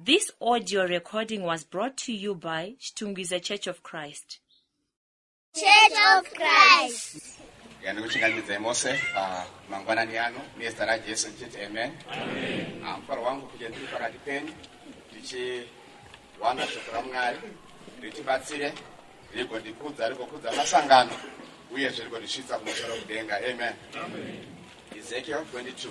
This audio recording was brought to you by Chitungwiza Church of Christ. Church of Christ. yandikuchinganyidzai mose ah, mangwanani ano nezita rajesu ndichiti amen ah, mufaro wangu kuti ndiri pakati penyu ndichiwana shoko ramwari ritibatsire rigondikudza rigokudza masangano uye zvirigondisvitsa kumusoro kudenga amen ezekiel 22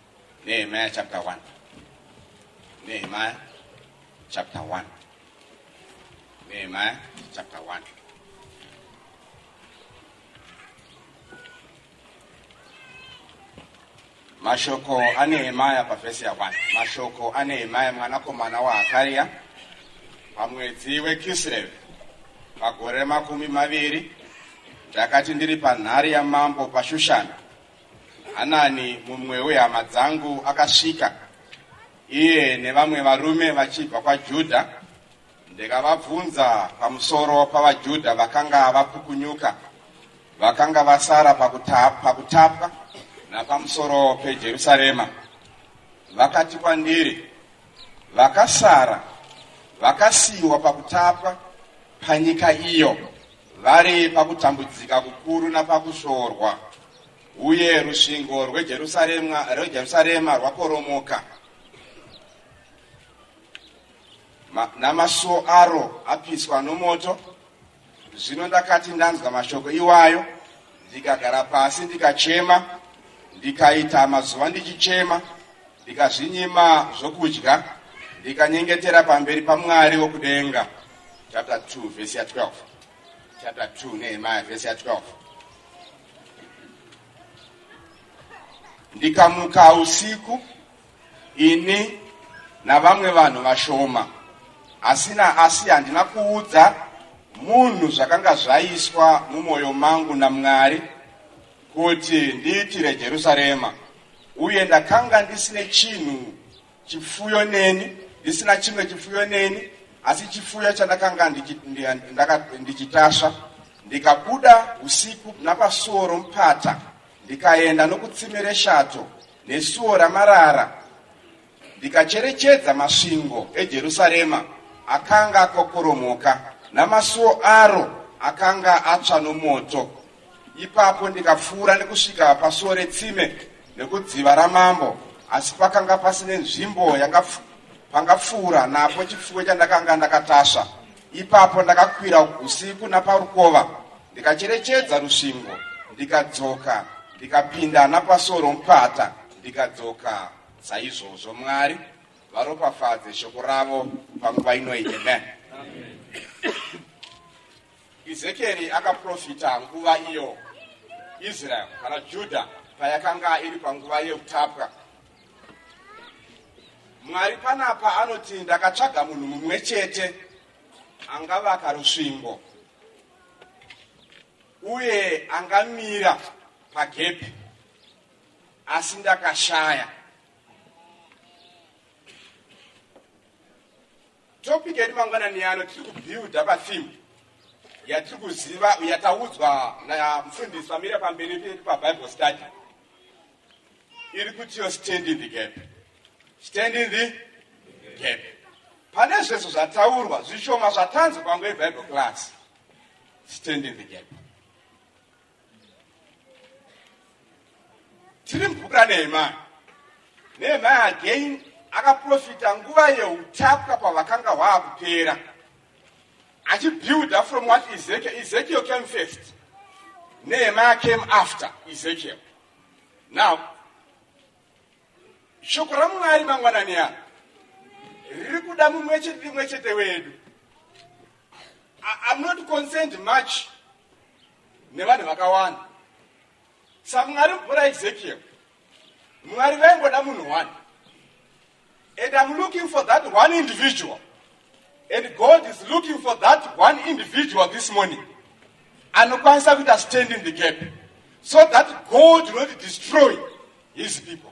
Nehemiah chapter 1. Nehemiah chapter 1. Nehemiah chapter 1. Mashoko anehemaya pavhesi ya 1. Mashoko anehemaya mwanakomana waHakaria pamwedzi weKislevi pagore remakumi maviri ndakati ndiri panhare yamambo paShushana Hanani mumwe wehama dzangu akasvika, iye nevamwe varume vachibva kwaJudha. Ndikavabvunza pamusoro pavaJudha vakanga vapukunyuka, vakanga vasara pakutapwa napamusoro peJerusarema. Vakati kwandiri, Vakasara vakasiyiwa pakutapwa panyika iyo vari pakutambudzika kukuru napakusvorwa. Uye rusvingo rweJerusarema, rweJerusarema rwakoromoka, Ma, namasuo aro apiswa nomoto. Zvino ndakati ndanzwa mashoko iwayo, ndikagara pasi ndikachema, ndikaita mazuva ndichichema, ndikazvinyima zvokudya, ndikanyengetera pamberi paMwari wokudenga. Chapter 2 verse 12. chapter 2 nehemaya vhesi ya12 ndikamuka usiku ini navamwe vanhu vashoma asina asi handina kuudza munhu zvakanga zvaiswa mumwoyo mangu namwari kuti ndiitire jerusarema uye ndakanga ndisine chinhu Chipfuyo neni, ndisina chimwe chipfuyo neni, asi chipfuyo chandakanga ndichitasva. Ndikabuda usiku napasuo romupata, ndikaenda nokutsime reshato nesuo ramarara, ndikacherechedza masvingo eJerusarema akanga akokoromoka, namasuo aro akanga atsva nomoto. Ipapo ndikapfuura nekusvika pasuo retsime nekudziva ramambo, asi pakanga pasine nzvimbo yanga pangapfuura napo chipfuwe chandakanga ndakatasva. Ipapo ndakakwira usiku naparukova ndikacherechedza rusvingo, ndikadzoka ndikapinda napasuo romupata ndikadzoka saizvozvo. Mwari varopafadze shoko ravo panguva inoyi. Amen. Ezekieri akaprofita nguva iyo Israeri kana Judha payakanga iri panguva yeutapwa. Mwari panapa anoti ndakatsvaga munhu mumwe chete angavaka rusvingo uye angamira pagepi asi ndakashaya Topic yedu mangwanani ano tiri kubuilda patheme yatiri kuziva yataudzwa namufundisi vamira pamberi pedu pabible study iri kutiyo stand in the gap stand in the gap pane zvese zvataurwa zvishoma zvatanzi panguva yebible class stand in the gap tiri mvura nema nema again akaprofita nguva yeutapwa pavakanga hwaakupera achibuilda from what ezekiel ezekiel came first nema came after ezekiel now shoko ramwari mangwanani ano riri kuda mumwe chete rimwe chete wedu i'm not concerned much nevanhu vakawanda samwari mvura ezekiel mwari vaingoda munhu one and im looking for that one individual and god is looking for that one individual this morning anokwanisa kuita stand in the gap so that god will not destroy his people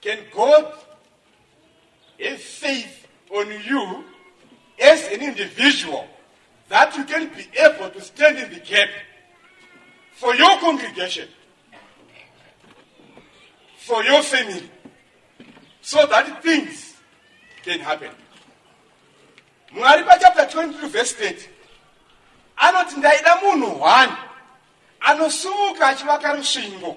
Can God have faith on you as an individual that you can be able to stand in the gap for your congregation, for your family, so that things can happen. Mwari pa chapter 22 verse 30 anoti ndaida munhu one anosumuka achivaka rusvingo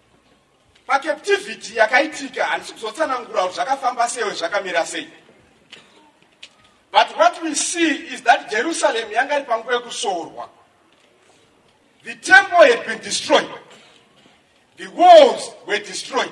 Pacaptivity yakaitika handisi kuzotsanangura kuti zvakafamba sewe zvakamira sei. But what we see is that Jerusalem yanga iri panguva yekusorwa. The temple had been destroyed. The walls were destroyed.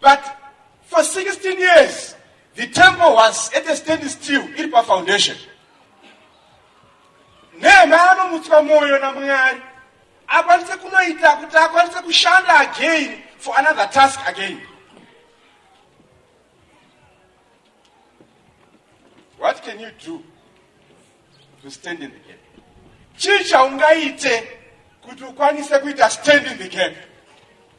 But for 16 years the temple was at a stand still iri pafoundation nehema anomutswa mwoyo namwari akwanise kunoita kuti akwanise kushanda again for another task again what can you do to stand in the gap chii chaungaite kuti ukwanise kuita stand in the gap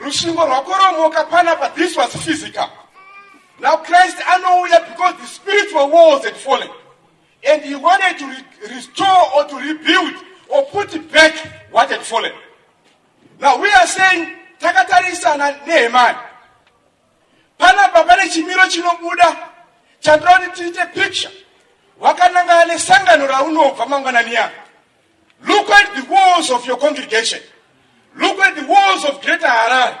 Rusvingo rwakoromoka panapa this was physical. Now Christ anouya because the spiritual walls had fallen and he wanted to re restore or to rebuild or put back what had fallen. Now we are saying takatarisana Nehemiah. Panapa pane chimiro chinobuda chandinoda kuti tiite picture wakanangana nesangano raunobva mangwanani yako Look at the walls of your congregation. Look at the walls of Greater Harare.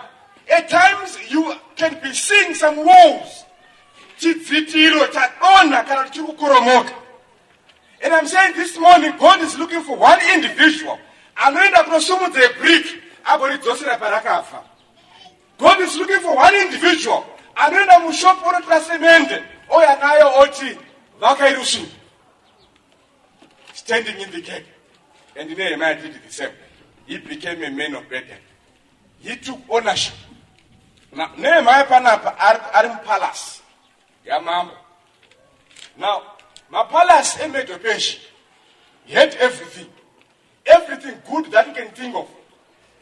At times you can be seeing some walls. Chidzitiro chadonha kana chiri kukoromoka. And I'm saying this morning God is looking for one individual anoenda kunosumudza yebrick agoridzosera parakafa. God is looking for one individual anoenda mushop onotora semende ouya nayo oti vakairusvira. standing in the gap and nehemaya did the same he became a man of burden he took ownership now nehemaya panapa ari mupalasi yamambo now mapalasi emedo peshi he had everything Everything good that you can think of.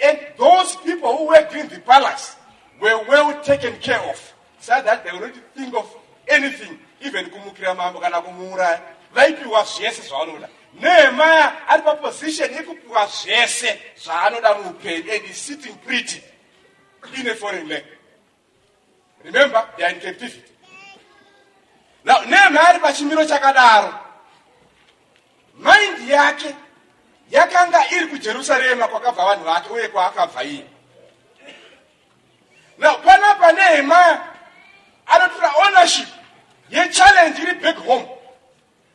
And those people who worked in the palace were well taken care of so that they already think of anything even kumukira mambo kana kumuuraya vaipiwa zvese zvavanoda nehemaya ari paposition yekupiwa zvese zvaanoda muupenyu and is sitting pretty in a foreign land Remember, they are in captivity. Now, Nehemiah ari pachimiro chakadaro. Mind yake yakanga iri kuJerusarema kwakabva vanhu vake uye kwaakabva iye. Now, panapa Nehemiah anotora ownership yechallenge iri back home.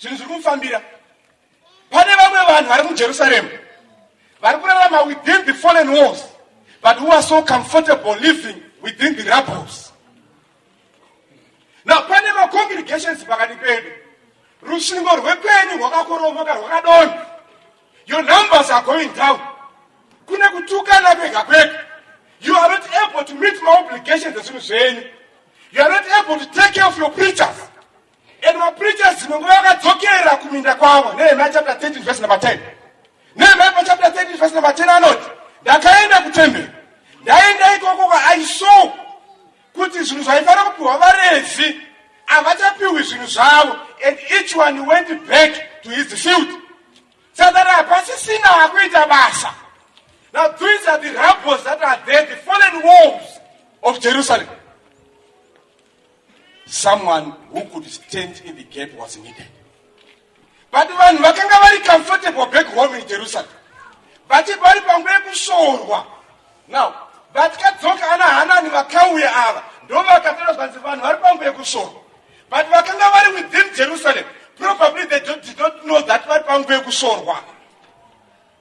zvinhu zviri kumufambira pane vamwe vanhu vari mujerusaremu vari kurarama within the fallen walls but who are so comfortable living within the rubbles now pane macongregations pakati pedu rusvingo rwekwenyu rwakakoromoka rwakadonha your numbers are going down kune kutukana kwega kwega you are not able to meet my obligations ezvinhu zvenyu you are not able to take care of your preachers And mapreachers dzimwe nguva vakadzokera kuminda kwavo Nehemiah chapter 13 verse number 10 Nehemiah pa chapter 13 verse number 10 anoti ndakaenda kutemberi ndaenda ikoko ka I saw kuti zvinhu zvaifanira kupiwa vaRevhi havachapiwi zvinhu zvavo and each one went back to his field sadari hapasisina akuita basa now these are the rubbles that are there the fallen walls of Jerusalem someone who could stand in the gap was needed but vanhu vakanga vari comfortable back home in jerusalem vati vari pangu yekushorwa now vatikadzoka ana hanani vakauya ava ndovakatora zvanzi vanhu vari pangu yekushorwa but vakanga vari within jerusalem probably they did not know that vari pangu yekushorwa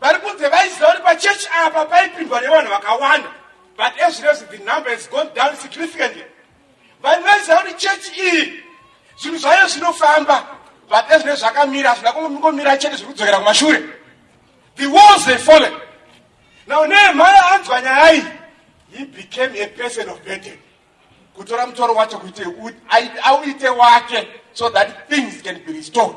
vari kunze vaiziva kuti pachechi apa paipindwa nevanhu vakawanda but ezvinezvi the number has gone down significantly vanhu vaiziva kuti chechi iyi zvinhu zvayo zvinofamba but ezvinezvi zvakamira hazvina kungomira chete zviri kudzokera kumashure the walls they fallen now nehemhaya anzwa nyaya iyi he became a person of burden kutora mutoro wacho kuite auite wake so that things can be restored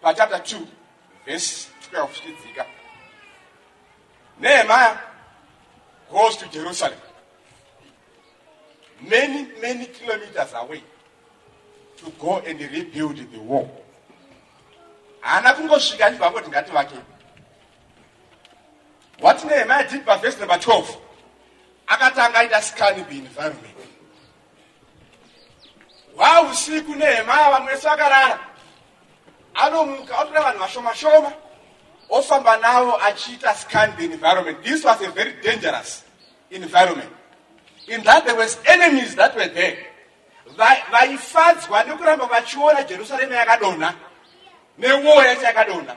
pachapta 2 vhesi 12 zvichidzika nehemaya goes to jerusalem many many kilometers away to go and rebuild the war haana kungosvika achibva angoti ngati vake what nehemaya did pavhesi number 12 akatanga aita scan the environment hwausiku nehema yavamwe vese vakarara anomuka otora vanhu vashoma shoma ofamba navo achiita scan the environment this was a very dangerous environment in that there was enemies that were there vaifadzwa nekuramba vachiona jerusarema yakadonha newoo yacho yakadonha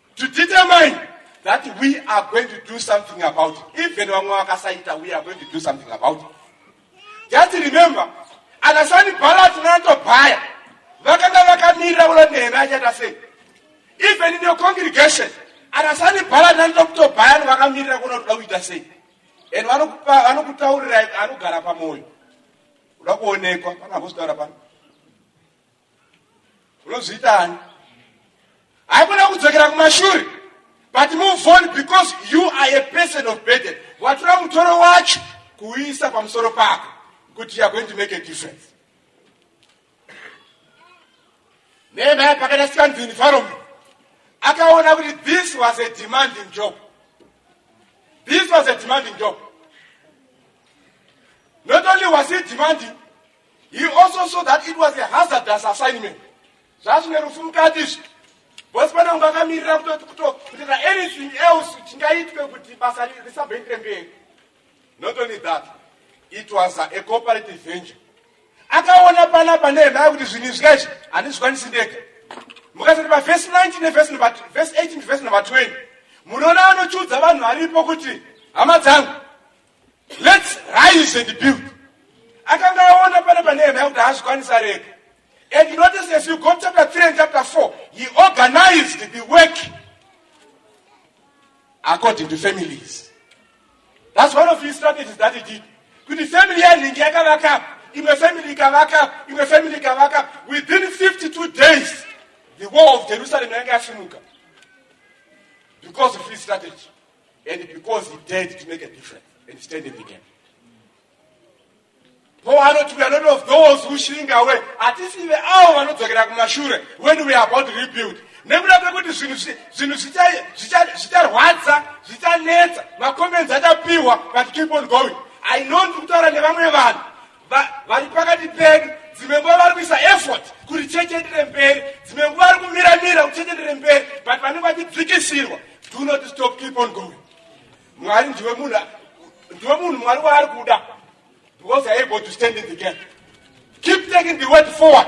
to determine that we are going to do something about it even vamwe vakasaita we are going to do something about it just remember ana sani bhalat nanatobhaya vakanga vakamirira ulo neheme achaita sei even in your congregation ana sani bhalat nanatobhaya no vakamirira kuona kuda kuita sei and vanokutaurirai anogara pamwoyo uda kuonekwa pana vozitaura pano unozviita ani haikona kudzokera kumashure but move on because you are a person of burden watora mutoro wacho kuuisa pamusoro pako kuti youare going to make a difference nemaya pakaita sikanzi environment akaona kuti this was a demanding job this was a demanding job not only was it demanding He also saw that it was a hazardous assignment. Zvazvine rufu mukati izvi. Boss pana kunge akamirira kutoti kutokutoita anything else chingaitwe kuti basa risabhoendere mberi. Not only that, it was a cooperative venture. Akaona pana pane hemaya kuti zvinhu izvi kaizvi handizvikwanisi ndega. Mukasati pa verse 19 ne verse number verse 18 verse number 20. Munoona anochudza vanhu varipo kuti hama dzangu Let's rise and build. Akanga aona pane pane hema kuti haazvikwanisa rega. And notice as you go chapter 3 and chapter 4, he organized the work according to families. That's one of his strategies that he did. Kuti family yaringi yakavaka up, imwe family ikavaka up, imwe family ikavaka up. Within 52 days, the war of Jerusalem yanga yasimuka because of his strategy. And because he dared to make a difference and stand in the gap. Paul anoti we are not of those who shrink away. Hatisive avo vanodzokera kumashure when we are about to rebuild. nekuda kwekuti zvinhu zvicharwadza zvichanetsa macomments achapihwa but keep on going i know ndiri kutaura nevamwe vanhu Va, vari pakati pedu dzimwe nguva vari kuisa effort kuti cheche ndire mberi dzimwe nguva vari kumira mira kuti cheche ndire mberi but vanenge vachidzikisirwa do not stop keep on going mwari ndiwe munhu ndiwe munhu mwari waari kuda because i able to stand in the gap keep taking the word forward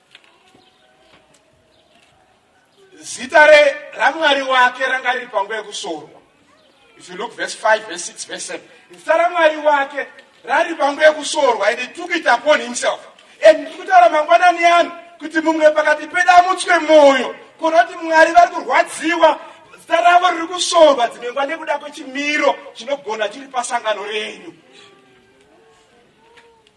zita ramwari wake ranga riri panguva yekusorwa if you look verse 5 verse 6 verse 7 zita ramwari wake rari panguva yekusorwa and he took it upon himself and ndiri kutaura mangwanani ano kuti mumwe pakati pedamutswe mwoyo kuona kuti mwari vari kurwadziwa zita ravo riri kusorwa dzimwe nguva nekuda kwechimiro chinogona chiri pasangano renyu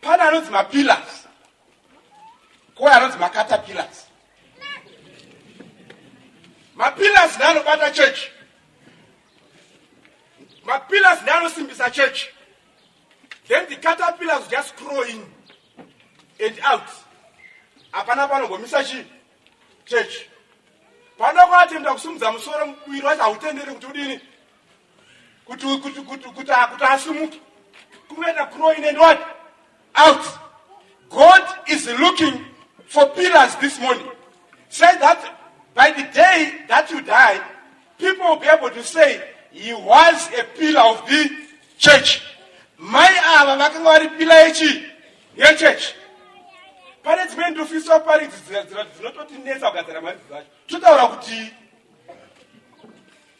pane anonzi mapillars kouya anonzi macatapillars mapillars neanobata chechi mapillars neanosimbisa chechi then the catapillars just crow in and out hapana panogomisa chii chechi panokwatenda kusimudza musoro muviri wacho hautendere kuti udini kuti kuti kuti kuti akuti asimuke kuenda growing and what out god is looking for pillars this morning say that by the day that you die people will be able to say he was a pillar of the church mai ava vakanga vari pila yechi yechurch pane dzimwe ndofiso pari dzinototinetsa kugadzira mari dzacho totaura kuti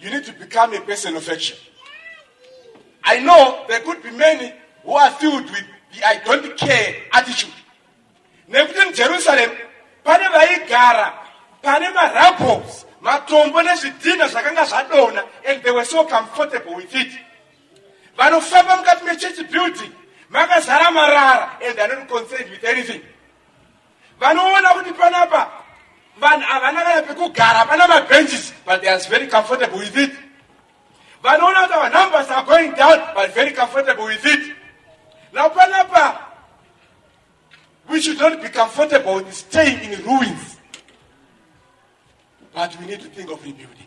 You need to become a person of action. I know there could be many who are filled with the I don't care attitude. Nekuti muJerusalem pane vaigara pane marabbles matombo nezvidhina zvakanga zvadona and they were so comfortable with it. Vanofamba mukati mechurch building makazara marara and are not concerned with anything. vanoona kuti panapa vanhu havana kana pekugara pana mabenches but they are very comfortable with it vanoona kuti our numbers are going down but very comfortable with it now panapa we should not be comfortable with staying in ruins but we need to think of rebuilding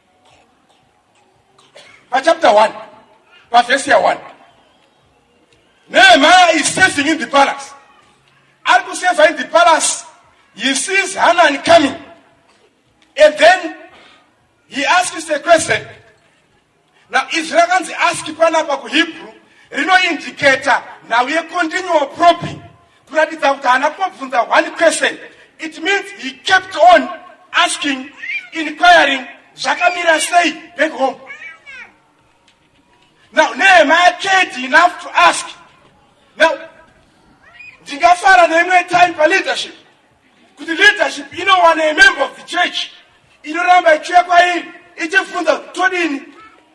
pachapter 1 pavhesi ya 1 nehemaya is saving in the palace ari kuseva in the palace he sees hanani coming and then he asks a question now izwi rakanzi ask panapa kuhebrew rinoindicata nhau yecontinual probing kuratidza kuti haana kumbobvunza one question it means he kept on asking inquiring zvakamira sei back home now nehema yakedi enough to ask now ndingafara neimwe time paleadership kuti leadership inowana a member of the church inoramba ichiuya kwairi ichifunza kuti todini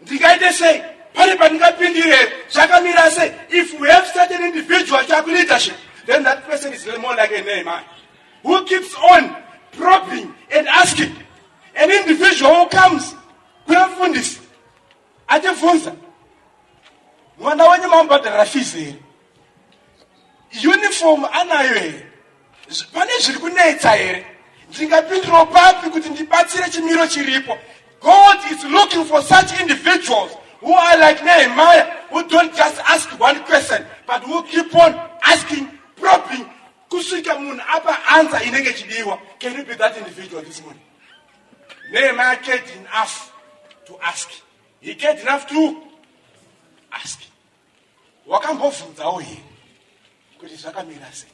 ndingaite sei pane pandingapindire zvakamira sei if we have certain individual chaku leadership then that person is more like a name man who keeps on probing and asking an individual who comes kuna mfundisi achifunza mwana wenyu mamubhadharira fizi here uniform anayo here pane zviri kunetsa here ndingapindiro papi kuti ndibatsire chimiro chiripo god is looking for such individuals who are like nehemiah who don't just ask one question but who keep on asking probing kusvika munhu apa ansa inenge chidiwa can you be that individual this morning nehemiah cared enough to ask he cared enough to ask wakambobvunzawo here kuti zvakamira sei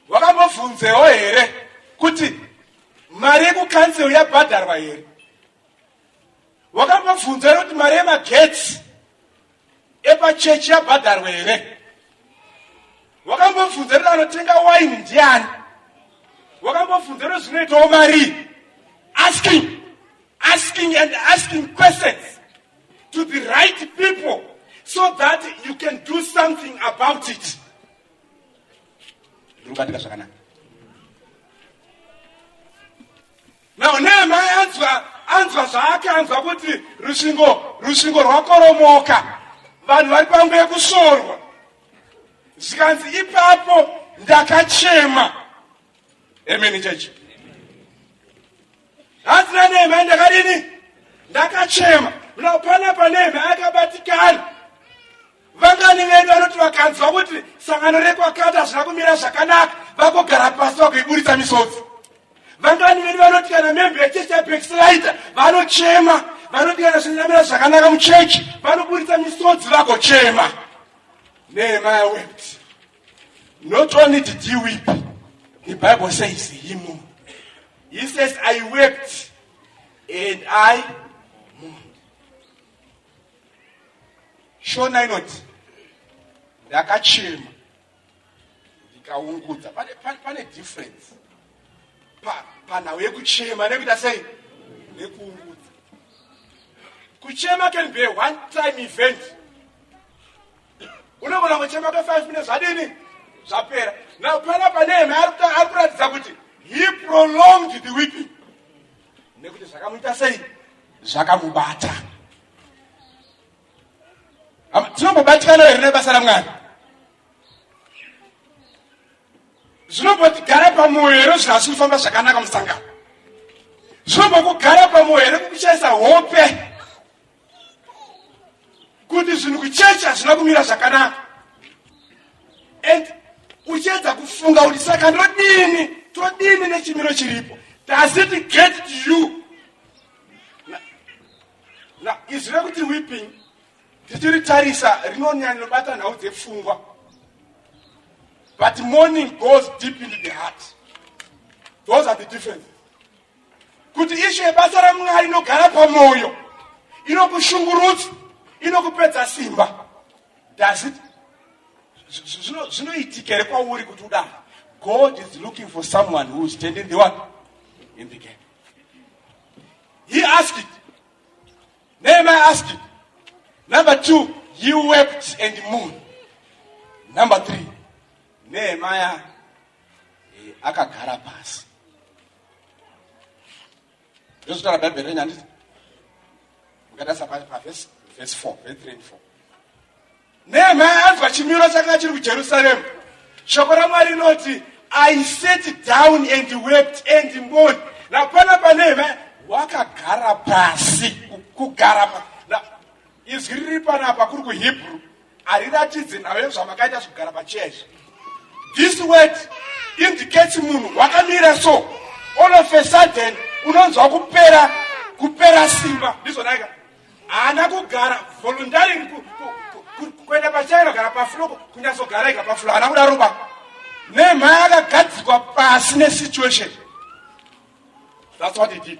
wakambobvunzewo here kuti mari yekukansel yabhadharwa here wakambobvunza here kuti mari yemagetsi epachechi yabhadharwa here wakambobvunza kuti anotenga waini ndiani wakambobvunza kuti zvinoitawo marii asking asking and asking questions to the right people so that you can do something about it ndikubatika zvakanaka now neema anzwa anzwa zvaake anzwa kuti rusvingo rusvingo rwakoromoka vanhu vari pangu yekusvorwa zvikanzi ipapo ndakachema emeni chechi hanzi nanehemai ndakadini ndakachema now panapa nehemai akabatikana vangani vedu vanoti vakanzwa kuti sangano rekwakati hazvina kumira zvakanaka vakogara pasi vakuiburitsa misodzi vangani vedu vanoti kana membe yechechi yabexilaita vanochema vanoti kana zvinamira zvakanaka muchechi vanoburitsa misodzi vagochema nehemai wept Not only did he weep, the Bible says he mourned. He says, I wept and I mourned. Shona inoti ndakachema ndikaungudza. Pane, pane, pane difference pa, panhau yekuchema nekuita sei nekuungudza. Kuchema can be a one time event unogona kuchema ka 5 minutes zvadini zvapera now pana panehema ari kuratidza kuti he prolonged the weeping nekuti zvakamuita sei zvakamubata tinombobatikana here nebasa ramwari zvinombotigara pamwoyo here zvinhu asi kufamba zvakanaka musangano zvinombokugara pamwoyo here kukuchaisa hope kuti zvinhu kuchechi hazvina kumira zvakanaka and uchiedza kufunga kuti saka ndodini todini nechimiro chiripo does it get to you na izwi rekuti weeping tichiritarisa rinonyanya rinobata nhau dzepfungwa but morning goes deep into the heart those are the differences kuti ishu yebasa ramwari inogara pamwoyo inokushungurudza inokupedza simba does it zvinoitika here kwauri kuti udaro god is looking for someone who is standing the one in the gap he asked it nehemiah asked it number two you wept and moon number three nehemiah Eh, akagara pasi ndozvitaura bhaibheri renyu handiti mukatarisa pavhesi vhesi four vhesi three and four nehemaya anzwa chimiro chakanga chiri kujerusaremu shoko ramwari rinoti i sat down and wept and mourn napana panehemaya wakagara pasi kugara izwi riri panapa kuri kuhebrew hariratidze nhayo zvamakaita zvekugara pacheya izvi this word indicates munhu wakamira so all of a sudden unonzwa kupera kupera simba ndizvonaika haana kugara voluntaring kuenda pacheya inogara pafulo kunyatsogara ega pafulo haana kuda ruba nemhaya akagadzikwa pasi nesituation that's what he did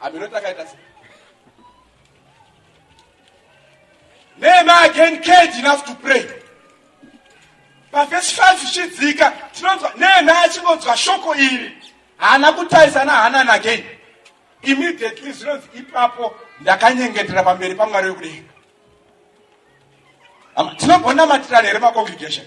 hameno takaita se nema again cage enough to pray pavhesi 5 zvichidzika tinonzwa nema achingonzwa shoko iri haana kutarisana hanan again immediately zvinonzi ipapo ndakanyengetera pamberi pamwari wekudenga tinogonamatirana here macongregation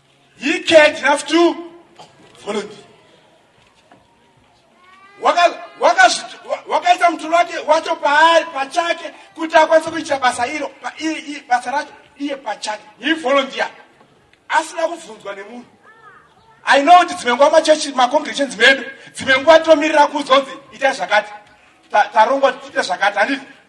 He cared enough to volunteer. wakaisa mutoro wake wacho paari pachake kuti akwanise kuitira basa iro basa racho iye pachake he volunteer asina kubvunzwa nemunhu i know kuti dzimwe nguva machechi macongregations medu dzimwe nguva tinomirira kuzonzi ita zvakati tarongwa tiite zvakati handiti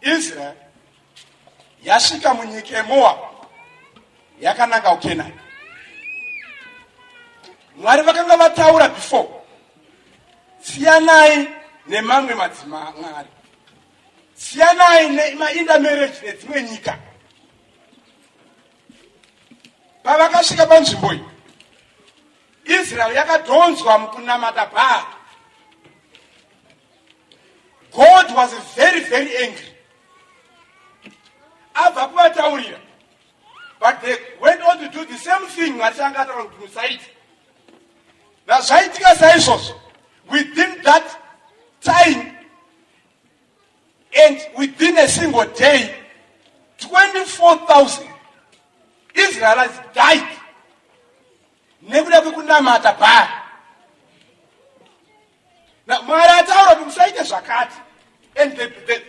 Israel yasvika munyika yeMoab yakananga kuKenani. Mwari vakanga vataura before, siyanai nemamwe madzima Mwari, siyanai nemainda marriage nedzimwe nyika. Pavakasvika panzvimbo iyi, Israel yakadhonzwa mukunamata Bhaari. God was very very angry abva kuvataurira but they went on to do the same thing mwari changa ataura kuti musaita nazvaitika saizvozvo within that time and within a single day 24000 israelis died nekuda kwekunamata bhaa Na, mwari ataura kuti musaite zvakati and the, the,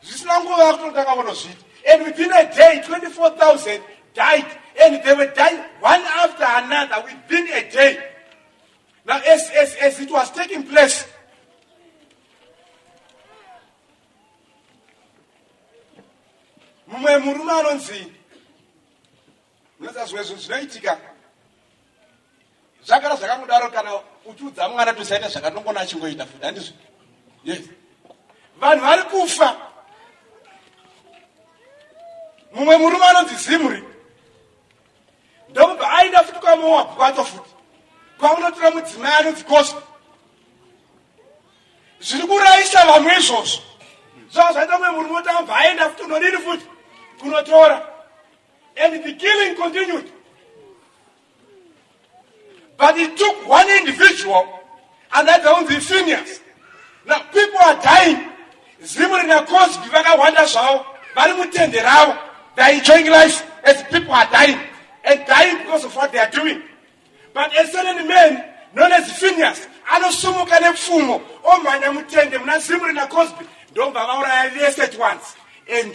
zvisina nguva kutotanga vonozviita and within a day 24000 died and they were dying one after another within a day now as, as, as it was taking place mumwe murume anonzi Unoziva zvimwe zvinhu zvinoitika zvagara zvakangodaro kana uchiudza mwana tosaita zvakanongona achingoita futi handizvo yes vanhu vari kufa mumwe murume anonzi zimri ndokubva aenda futi kwamoabhu kwacho futi kwakunotora mudzimai anonzi kosa zviri kurayisa vamwe izvozvo zvava zvaita mumwe murume otamva aenda futi unodini futi kunotora And the killing continued. But it took one individual and that was the seniors. Now people are dying. Zimu rinakosi vakawanda zvavo vari mutende ravo. They are enjoying life as people are dying and dying because of what they are doing. But a certain man known as Phineas anosumuka nepfumo omhanya mutende muna Zimri naCosby ndomva vauraya vese at once and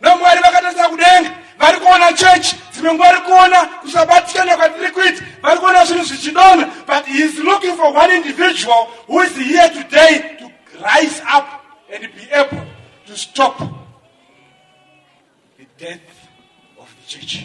vamwari vakatarisa kudenga vari kuona chechi dzimwe nguva vari kuona kusabatikana kwatiri kuita vari kuona zvinhu zvichidona but he is looking for one individual who is here today to rise up and be able to stop the death of the church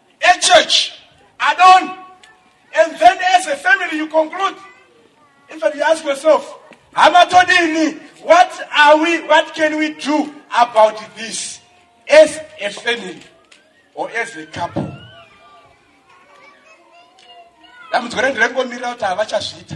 A church, add-on, and then as a family you conclude. In fact, you ask yourself, Hamatodini, what are we, what can we do about this as a family or as a couple? dambudziko rendirengomirira kuti havachazviita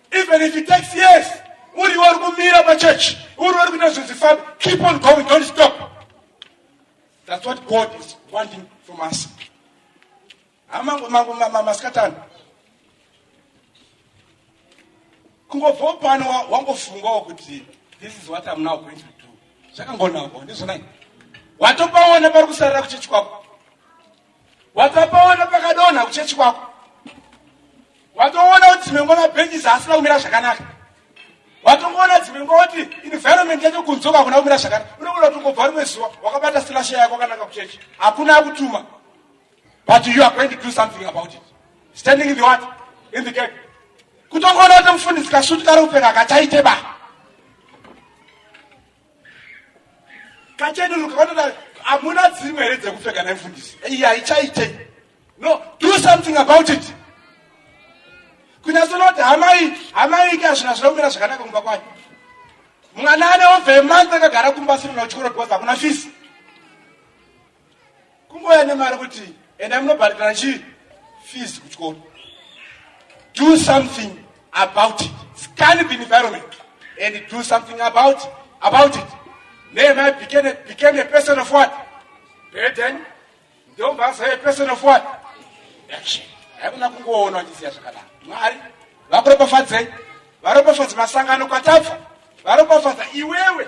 Even if it takes years, uri uri kumira pachurch, uri uri kuita zvinhu keep on going, don't stop. That's what God is wanting from us. Amangu mangu mama maskatani. Kungobva pano wangofungawo kuti this is what I'm now going to do. Zvakangonawo ndizvo nai. Watopaona pari kusarira kuchechi kwako. Watapaona pakadonha kuchechi kwako. Watoona kuti dzimwe nguva mabhenji zaasina kumira zvakanaka. Watongoona dzimwe nguva kuti environment yacho kunzoka hakuna kumira zvakanaka. Unogona kuti ungobva rimwe zuva wakabata silasha yako wakananga kuchechi. Hakuna akutuma. But you are going to do something about it. Standing in the what? In the gate. Kutongoona kuti mufundisi kasutu kari kupfeka kachaite ba. kachenuruka kanoda hamuna dzimwe here dzekupfeka nemfundisi iyi haichaite no do something about it kunyatsonakuti hamai hamai ike hazvina zvina kumira zvakanaka kumba kwayo mwana ane ove month akagara kumba asiri na uchikoro because hakuna fisi kungouya nemari kuti enda munobhadhara chii fees kuchikoro do something about it scan the environment and do something about it. about it nehemai became, became a person of what burden ndombaza a person of what action haikuna kungoona vachisiya zvakanaka mwari vakuropafadzei varopafadze masangano kwatabva varopafadza iwewe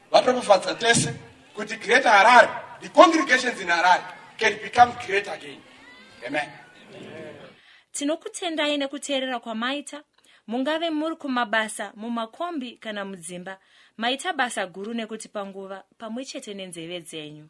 Vatokufadza tese kuti Greater Harare, the congregations in Harare can become great again. Amen. Tinokutendai nekuteerera kwamaita mungave muri kumabasa mumakombi kana mudzimba maita basa guru nekutipa nguva pamwe chete nenzeve dzenyu